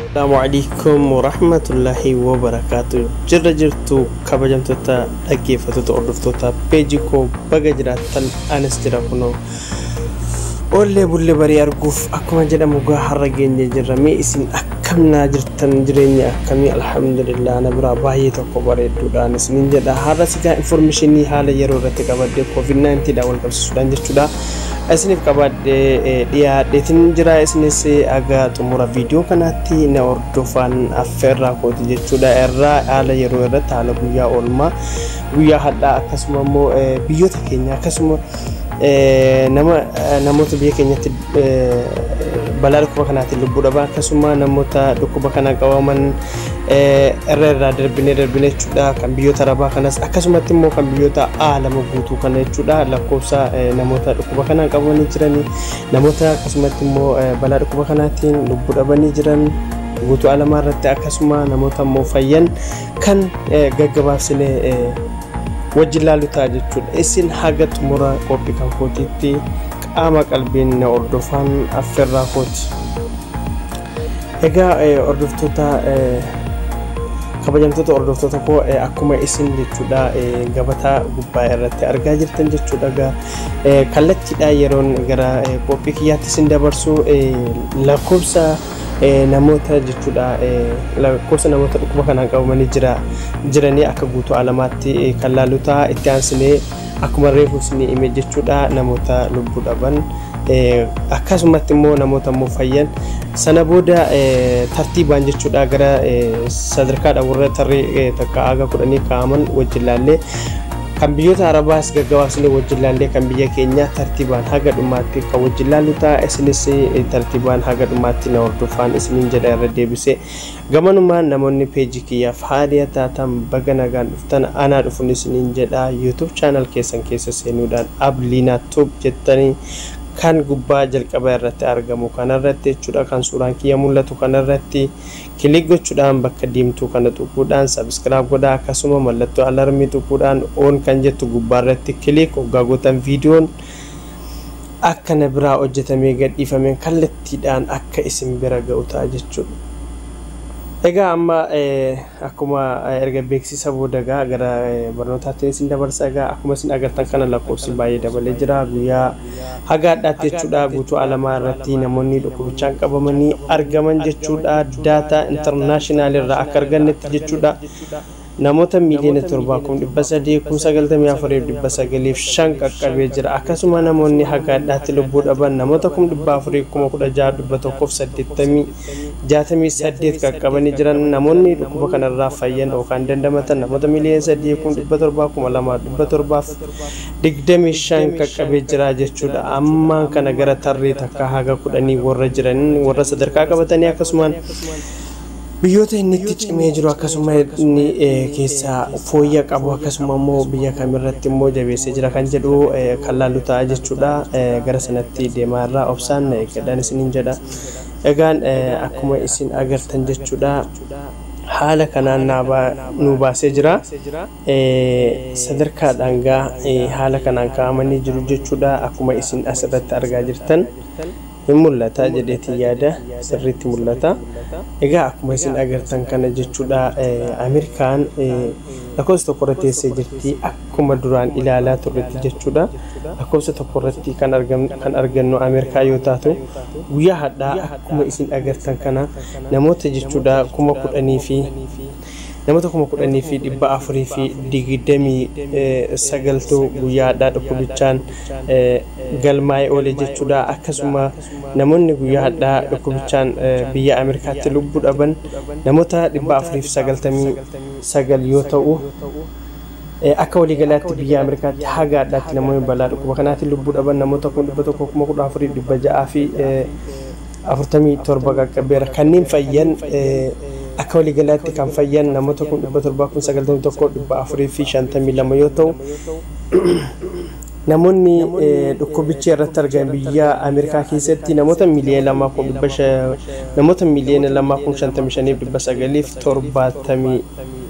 Assalamu alaikum warahmatullahi wabarakatuh. Jirra jirtu kabajamtoota dhaggeeffattoota hordoftoota peejii koo baga jiraattan anis jira kunoo. Oollee bullee barii arguuf akkuma jedhamu gaa har'a geenye jirra mee isin akka Akkam naa jirtan jireenya akkamii alhamdulillah na biraa baay'ee tokko bareedduudhaan isiniin jedha har'a sigaa informishinii haala yeroo irratti qabadde covid 19 dhaan wal qabsiisuudhaan jechuudha isiniif qabadde dhiyaadheetiin jira isinis aga xumura viidiyoo kanaatti na hordofaan affeerraa kooti jechuudha irraa haala yeroo irratti haala guyyaa oolmaa guyyaa hadhaa akkasuma immoo biyyoota keenya akkasuma nama namoota biyya keenyatti balaa dhukkuba kanaatiin lubbuu dhaban akkasuma namoota dhukkuba kanaan qabaman irra irraa darbinee darbinee jechuudha kan biyyoota arabaa kanas akkasumatti immoo kan biyyoota aalama guutuu kana jechuudha lakkoofsa namoota dhukkuba kanaan qabamanii jiran namoota akkasumatti immoo balaa dhukkuba kanaatiin lubbuu dhabanii jiran guutuu alamaa irratti akkasuma namoota immoo fayyan kan gaggabaabsine wajjin laalu ta'a jechuudha. Isin haga xumura qophii kan kootiitti qaama qalbiin na hordofaan affeerraa kooti. Egaa hordoftoota kabajamtoota hordoftoota koo akkuma isin jechuudha gabataa gubbaa irratti argaa jirtan jechuudha egaa kallattiidhaa yeroon gara qophii kiyyaatti isin dabarsu lakkoofsa Namoota jechuudha lakkoofsa namoota dhukkuba kanaan qabamanii jira jiranii akka guutuu alamaatti kan laaluu ta'a itti aansinee akkuma reefu isinii hime jechuudha namoota lubbuu dhaban akkasumatti immoo namoota immoo fayyan sana booda tartiibaan jechuudha gara sadarkaadha warra tarree takka haga kudhanii kaa'aman wajjin laallee Kan biyyoota Arabaas gaggabaabsinee wajjin laallee kan biyya keenyaa tartiibaan haga dhumaatti kan wajjin laallu ta'a. Isinis tartiibaan haga dhumaatti na hordofaan isiniin jedha irra deebisee. Gamanumaan namoonni peejii kiyyaaf haariya taatan baga nagaan dhuftan anaa dhufun isiniin jedha. YouTube channel keessan keessa seenuudhaan Abliina Tube jettanii kan gubbaa jalqaba irratti argamu kanarratti jechuudha kan suuraan kiyya mul'atu kanarratti Click gochudhaan bakka diimtuu kana xuquudhaan subscribe godhaa akkasuma mallattoo alarmii xuquudhaan on kan jettu gubbaa irratti click oggaa gootan viidiyoon akka na biraa hojjetamee gadhiifameen kallattiidhaan akka isin bira ga'u ta'a jechuudha. Egaa amma akkuma erga beeksisa booda egaa gara barnootaatti isin dabarsa egaa akkuma isin agartan kana lakkoofsi baay'ee dabalee jira guyyaa Haga hadhaatti jechuudha guutuu alamaa irratti namoonni dhukubichaan qabamanii argaman jechuudha daataa international irraa akka argannetti jechuudha namoota miiliyoona 7,394,905 qaqqabee jira akkasuma namoonni haga hadhaatti lubbuu dhaban namoota 416,180 qaqqabanii jiran namoonni dhukkuba kanarraa fayyan yookaan dandamatan namoota miiliyoona 3,700,200 25 qaqqabee jira jechuudha. Ammaan kana gara tarree takkaa haga kudhanii warra jiran warra sadarkaa qabatanii akkasumaan biyyoota inni itti cimee jiru akkasuma inni keessaa fooyya qabu akkasuma immoo biyya kamirratti immoo jabeessee jira kan jedhu kan laallu ta'a jechuudha. Gara sanatti deemaa irraa obsaan na eeggadhaan isiniin jedha. Egaan akkuma isin agartan jechuudha haala kanaan nu baasee jira. sadarkaa dhangaa haala kanaan kaa'amanii jiru jechuudha akkuma isin as irratti argaa jirtan hin mul'ata jedheetiin yaada sirriitti mul'ata egaa akkuma isin agartan kana jechuudha ameerikaan lakkoofsa tokko irra teessee jirti akkuma duraan ilaalaa turretti jechuudha lakkoofsa tokko irratti kan argannu ameerikaa yoo taatu guyyaa hadhaa akkuma isin agartan kana namoota jechuudha kuma kudhanii fi Namoota 10,429tu guyyaa hadhaa dhukkubichaan galmaa'ee oole jechuudha. Akkasuma namoonni guyyaa hadhaa dhukkubichaan biyya Ameerikaatti lubbuu dhaban namoota 499 yoo ta'u, akka waliigalaatti biyya Ameerikaatti haga hadhaatti namoonni balaa dhukkuba kanaatiin lubbuu dhaban namoota 114,600 fi 47 qaqqabeera. Kanneen fayyan akka waliigalaatti kan fayyan namoota 791,452 yoo ta'u, namoonni dhukkubichi irratti argame biyya Ameerikaa keessatti namoota miliyoona 2,055,970 fi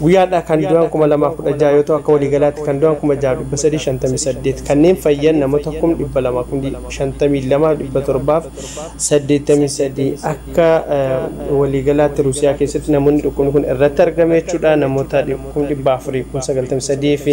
Guyyaa hadhaa kan du'an 2016 yoo ta'u akka waliigalaatti kan du'an 6358 kanneen fayyan namoota 252,783 akka waliigalaatti Ruusiyaa keessatti namoonni dhukkubni kun irratti argame jechuudha namoota 493 fi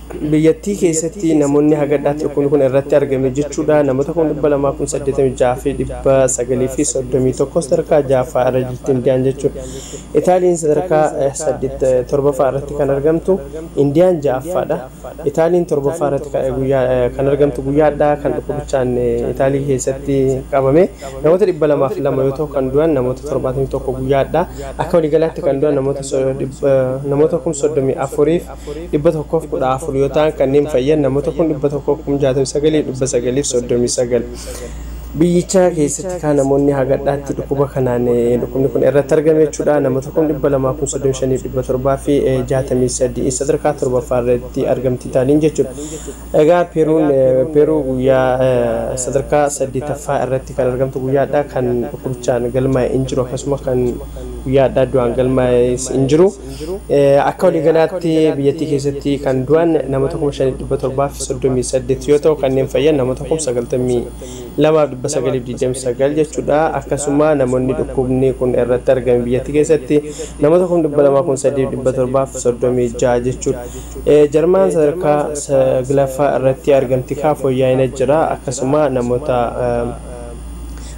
Biyyattii keessatti namoonni haga dha tirkun kun irratti argame jechuu dha namoota 286,931 sadarkaa 6ffaa irra jirti Indiyaan jechuu dha. Itaaliin sadarkaa 7ffaa irratti kan argamtu, Indiyaan 6ffaa dha. Itaaliin 7ffaa irratti kan argamtu guyyaa dhaa kan dhukkubichaan Itaalii keessatti qabame namoota 202 yoo ta'u kan du'an namoota 71 guyyaa dhaa. Akka waliigalaatti kan du'an namoota 34,000 114 yoo ta'an kanneen fayyan namoota 169,939 biyyichaa keessatti kaa namoonni hagadhaatti dhukkuba kanaan dhukkubni kun irratti argame jechuudha namoota 235,700 fi 63 sadarkaa torbaffaa irratti argamti taaniin jechuudha egaa peeruun peeruu guyyaa sadarkaa saddeetaffaa irratti kan argamtu guyyaadha kan dhukkubichaan galmaa'e hin jiru akkasuma kan guyyaadha du'aan galmaa'e hin jiru. Akka waliigalaatti biyyattii keessatti kan du'an namoota 5,738 yoo ta'u kanneen fayyan namoota 92,929 jechuudha. Akkasuma namoonni dhukkubni kun irratti argame biyyattii keessatti namoota 203,736 jechuudha. Jarmaan sadarkaa saglaffaa irratti argamti kaa fooyya'ina jira. Akkasuma namoota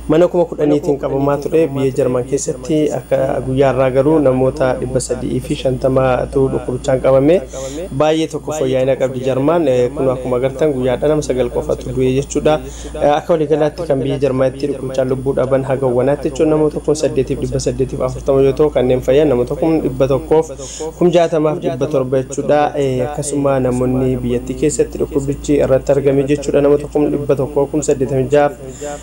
Mana kuma kudhaniitiin qabamaa ture biyya Jarman keessatti akka guyyaa har'aa garuu namoota 350 tu dhukkubichaan qabame. Baay'ee tokko fooyyaa'ina qabdi Jarman. Kunoo akkuma agartan guyyaa har'aa nama 9 qofatu du'e jechuudha. Akka waliigalaatti kan biyya Jarmanitti dhukkubichaan lubbuu dhaban haga wanaatti jechuun namoota 8,840 yoo ta'u kanneen fayyan namoota 100,000 fi 60,700 jechuudha. Akkasuma namoonni biyyattii keessatti dhukkubichi irratti argame jechuudha namoota 100,000 fi 86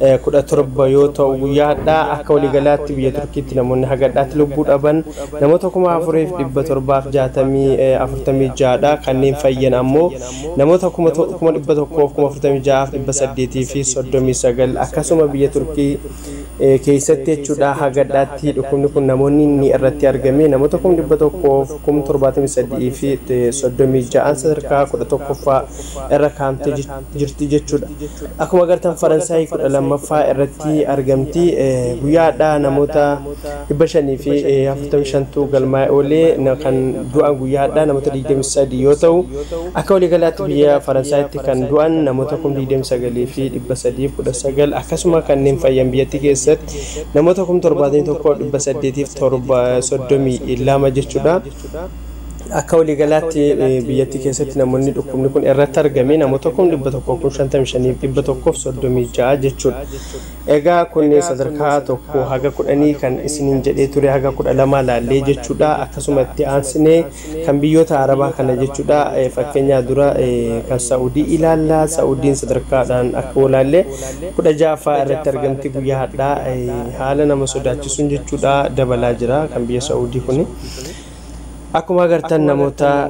17 yoo ta'u guyyaa hadhaa akka waliigalaatti biyya Turkiitti namoonni haga hadhaatti lubbuu dhaban namoota 4,746 dha. Kanneen fayyan ammoo namoota 146,839 akkasuma biyya Turkii keessatti jechuudha haga hadhaatti dhukkubni kun namoonni inni irratti argame namoota 100,073 fi 36 sadarkaa 11ffaa irra kaa'amte jechuudha. jirti jechuudha. Akkuma agartan Faransaay 12ffaa irratti argamti. Guyyaa hadhaa namoota 545tu galmaa'e oolee kan du'an guyyaa hadhaa namoota 23 yoo ta'u akka waliigalaatti biyya Faransaayitti kan du'an namoota 29,319 akkasuma kanneen fayyan biyyattii keessatti namoota 71,832 jechuudha. Akka waliigalaatti biyyattii keessatti namoonni dhukkubni kun irratti argame namoota kum 100 kum 55 fi 136 jechuudha. Egaa kun sadarkaa tokko haga kudhanii kan isiniin jedhee ture haga kudha lamaa laallee jechuudha. Akkasuma itti aansinee kan biyyoota Arabaa kana jechuudha. Fakkeenyaa dura kan Sa'udii ilaalla. Sa'udiin sadarkaadhaan akka walaallee kudha ja'affaa irratti argamti guyyaa hadhaa haala nama sodaachisuun jechuudha dabalaa jira kan biyya Sa'udii kuni. Akkuma agartan namoota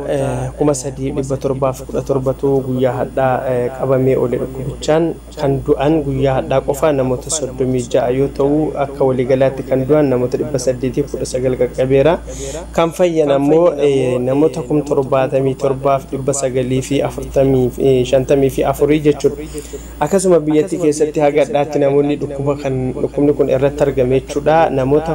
3,717tu guyyaa hadhaa qabamee oole dhukkubichaan kan du'an guyyaa hadhaa qofa namoota 36 yoo ta'u akka waliigalaatti kan du'an namoota 819 qaqqabeera. Kan fayyan ammoo namoota 77,954 jechuudha. Akkasuma biyyattii keessatti haga hadhaatti namoonni dhukkuba kan dhukkubni kun irratti argame jechuudha. Namoota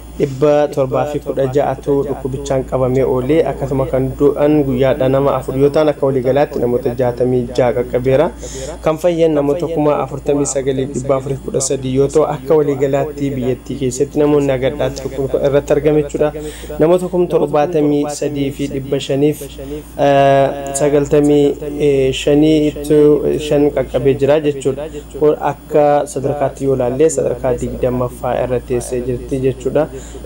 716 tu dhukkubichaan qabamee oole. Akkasuma kan du'an guyyaadha nama 4 yoo ta'an akka waliigalaatti namoota 66 qaqqabeera. Kan fayyan namoota 49,413 yoo ta'u akka waliigalaatti biyyattii keessatti namoonni agadhaatti dhukkubni kun irratti argame jechuudha. Namoota 73,500f 95 qaqqabee jira jechuudha. Akka sadarkaatti yoo ilaalle sadarkaa 20ffaa irra teessee jirti jechuudha.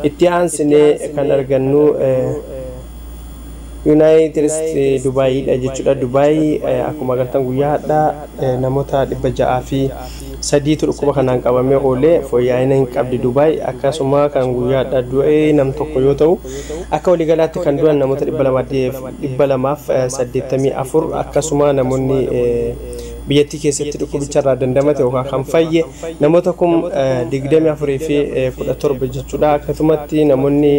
Itti aansinee kan argannu Yuunaayitid Isteetsi Dubaayiidha jechuudha. Dubaayi akkuma agartan guyyaa hadhaa namoota 603tu dhukkuba kanaan qabamee oole fooyya'ina hin qabdi Dubaayi. Akkasuma kan guyyaa hadhaa du'e nam tokko yoo ta'u akka waliigalaatti kan du'an namoota 284 akkasuma namoonni biyyattii keessatti dhukkubicharraa dandamate yookaan kan fayye namoota kum 24 fi 17 jechuudha. Akkasumatti namoonni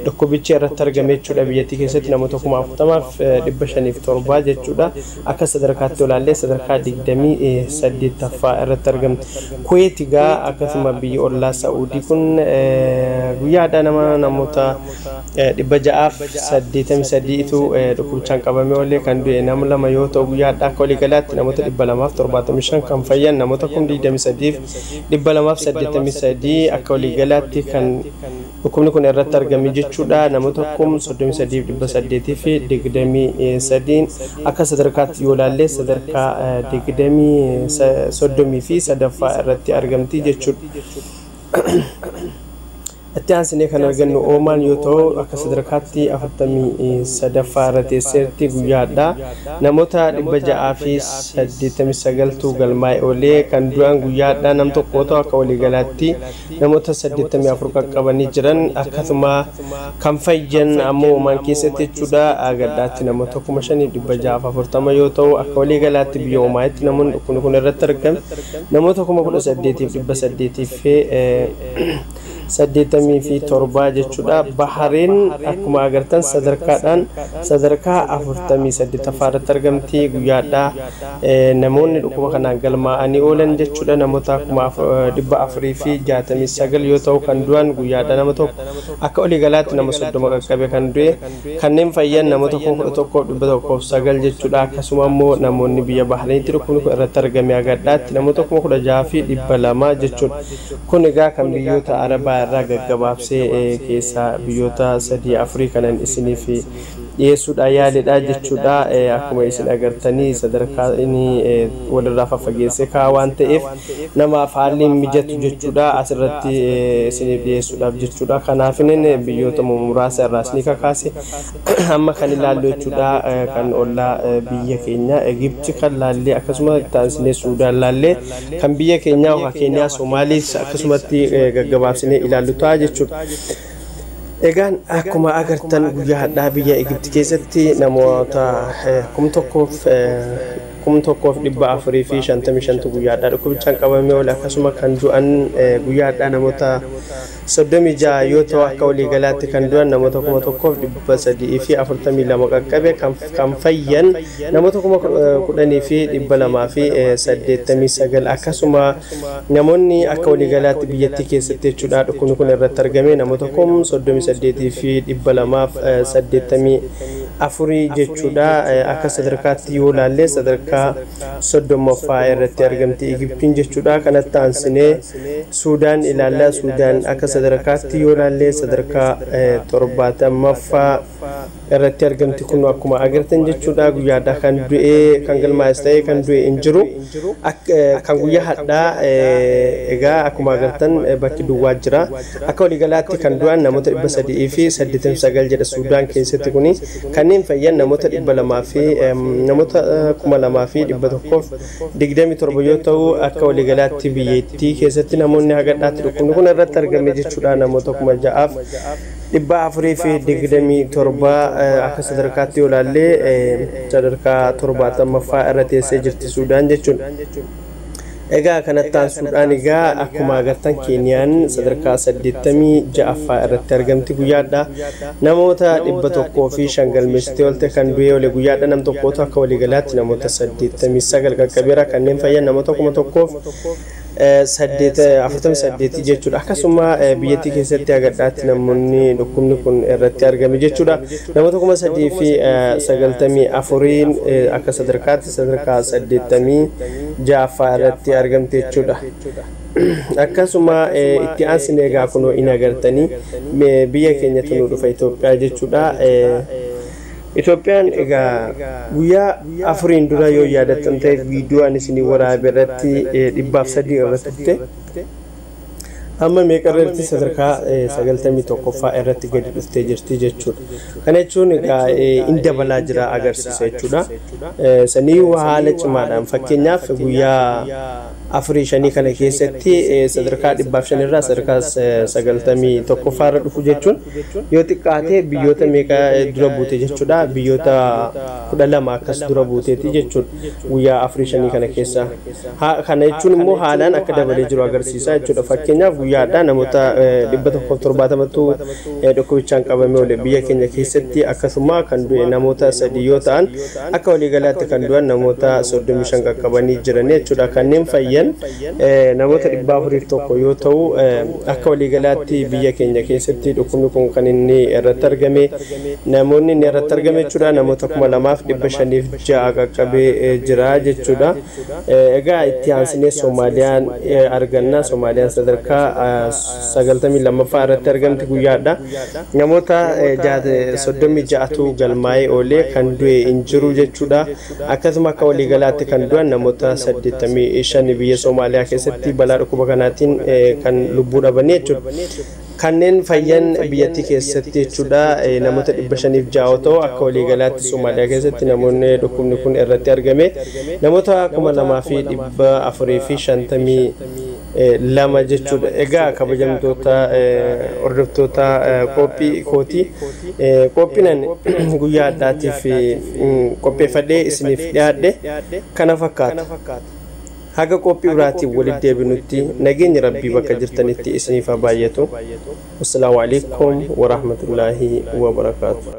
dhukkubichi irratti argame jechuudha biyyattii keessatti namoota kuma 40f 507 jechuudha. Akka sadarkaatti olaallee sadarkaa 28ffaa irratti argamti. Kuweeti gaa akkasuma biyyi ollaa Sa'uudii kun guyyaadhaa nama namoota 683 tu dhukkubichaan qabamee oolee kan du'e nama 2 yoo ta'u guyyaa hadhaa akka waliigalaatti namoota 275 kan fayyan namoota 23,283 akka waliigalaatti kan dhukkubni kun irratti argame jechuudha namoota 33,823 akka sadarkaatti yoo ilaallee sadarkaa 23 fi sadaffaa irratti argamti jechuudha. Itti aansinee kan argannu Oomaan yoo ta'u, akka sadarkaatti 43ffaa irra teesseerti. Guyyaa hadhaa namoota 689 tu galmaa'e oole. Kan du'an guyyaa hadhaa nam tokko yoo ta'u, akka waliigalaatti namoota 84 qaqqabanii jiran. Akkasuma kan fayyan ammoo Oomaan keessatti jechuudha gaddaatti namoota 5640 yoo ta'u, akka waliigalaatti biyya Oomaayitti namoonni dhukkubni kun irratti argame namoota 18800 fi saddeettamii fi torbaa jechuudha. Bahareen akkuma agartan sadarkaadhaan sadarkaa afurtamii saddeettaffaa irratti argamti guyyaadhaa namoonni dhukkuba kanaan galmaa'anii oolan jechuudha namoota kuma dhibba afurii fi jaatamii sagal yoo ta'u kan du'an guyyaadhaa nama tokko akka olii galaatti nama soddoma qaqqabe kan du'e Kanneen fayyan namoota 11,109 jechuudha. Akkasuma immoo namoonni biyya Bahreenitti dhukkubni kun irratti argame agadhaatti namoota 16,200 jechuudha. Kun egaa kan biyyoota Arabaa irraa gaggabaabsee keessaa biyyoota 3-4 kanan isiniif dhiyeessuudhaa yaaledha jechuudha. Akkuma isin agartanii sadarkaa inni walirraa faffageessee kaa'a waan ta'eef. namaaf haalli hin mijatu jechuudha asirratti isiniif dhiyeessuudhaaf jechuudha. Kanaafinin biyyoota muraasa irraa isinii kakaase amma kan ilaallu jechuudha kan ollaa biyya keenya Egipti kan laallee akkasuma itti aansinee Suudaan laallee kan biyya keenyaa yookaan Keeniyaa Somaaliis akkasumatti gaggabaabsinee ilaallu ta'a jechuudha. Egaan akkuma agartan guyyaa hadhaa biyya Egipti keessatti namoota kum tokkoof 1455 tu guyyaa hadhaa dhukkubichaan qabamee oole akkasuma kan du'an guyyaa hadhaa namoota 36 yoo ta'u akka waliigalaatti kan du'an namoota 1342 qaqqabe kan fayyan namoota 10289 akkasuma namoonni akka waliigalaatti biyyattii keessatti jechuudha dhukkubni kun irratti argame namoota 38280 afurii jechuudha. Akka sadarkaatti yoo ilaalle sadarkaa 30ffaa irratti argamti Igiptiin jechuudha. Kanatti aansinee Suudaan ilaalla. Suudaan akka sadarkaatti yoo ilaalle sadarkaa 70ffaa irratti argamti kun akkuma agartan jechuudha. Guyyaadhaa kan du'ee kan galmaa'es ta'ee kan du'e hin jiru. Kan guyyaa hadhaa egaa akkuma agartan bakki duwwaa jira. Akka waliigalaatti kan du'an namoota 389 jedha Suudaan keessatti kuni kanneen fayyan namoota 200 fi namoota 2127 yoo ta'u akka waliigalaatti biyyattii keessatti namoonni hagadhaatti dhukkubni kun irratti argame jechuudha namoota 6000f 427 akka sadarkaatti yoo ilaallee sadarkaa 70ffaa irra teessee jirti Suudaan jechuudha. Egaa kanatti aansuudhaan egaa akkuma agartan Keeniyaan sadarkaa 86ffaa irratti argamti guyyaadha. Namoota 105 galmeessitee oolte kan du'ee oole guyyaadha nam tokkootu akka waliigalaatti namoota 89 qaqqabeera kanneen fayyan namoota 1000f 48 jechuudha. Akkasuma biyyattii keessatti agadhaatti namoonni dhukkubni kun irratti argame jechuudha. Namoota 3,094 akka sadarkaatti sadarkaa 86ffaa irratti argamte jechuudha. Akkasuma itti aansine egaa kunoo in agartanii biyya keenyatu nu dhufa Itoophiyaa jechuudha. Itoophiyaan egaa guyyaa afuriin dura yoo yaadattan ta'e viidiyoo ani isinii waraabe irratti dhibbaaf sadii irra turte. Amma meeqarra jirti sadarkaa 91ffaa irratti gadi dhuftee jirti jechuudha. Kana jechuun egaa in dabalaa jira agarsiisa jechuudha. Saniyyuu haala cimaadhaan fakkeenyaaf guyyaa afurii shanii kana keessatti sadarkaa dhibbaaf shan irraa sadarkaa 91ffaa irra dhufu jechuun yoo xiqqaatee biyyoota meeqa dura buute jechuudha. Biyyoota 12 akkas dura buuteeti jechuudha. guyyaa afurii shanii kana keessaa. Ha- Kana jechuun immoo haalaan akka dabalee jiru agarsiisa jechuudha. Fakkeenyaaf guyyaa addaa namoota eh, 170tu eh, dhukkubichaan qabamee oole biyya keenya keessatti akkasuma kan du'e namoota sadii yoo ta'an akka waliigalaatti kan du'an namoota 35 qaqqabanii jiran jechuudha. Kanneen fayyan eh, namoota 401 yoo ta'u eh, akka waliigalaatti biyya keenya keessatti dhukkubni kun kan inni irratti argame namoonni inni irratti argame jechuudha namoota 2500 ja'a qaqqabee jira jechuudha. Egaa itti aansinee Soomaaliyaan arganna. Soomaaliyaan sadarkaa 92ffaa irratti argamti guyyaadha. Namoota 36tu galmaa'ee oolee kan du'e hin jiru jechuudha. Akkasuma akka waliigalaatti kan du'an namoota 85 biyya Soomaaliyaa keessatti balaa dhukkuba kanaatiin kan lubbuu dhabanii jechuudha. Kanneen fayyan biyyattii keessatti jechuudha namoota 506 yoo ta'u akka waliigalaatti Somaaliyaa keessatti namoonni dhukkubni kun irratti argame namoota 2452 jechuudha. Egaa kabajamtoota hordoftoota qophii kootii qophiinan guyyaa addaatiif qopheeffadhee isiniif dhiyaadhe kana fakkaata. Haga qophii biraatiin walitti deebinutti nageenyi Rabbii bakka jirtanitti isiniif haa baayyatu. Wassalaamu Aleeykum Warahmatullaahi Wabarakaatu.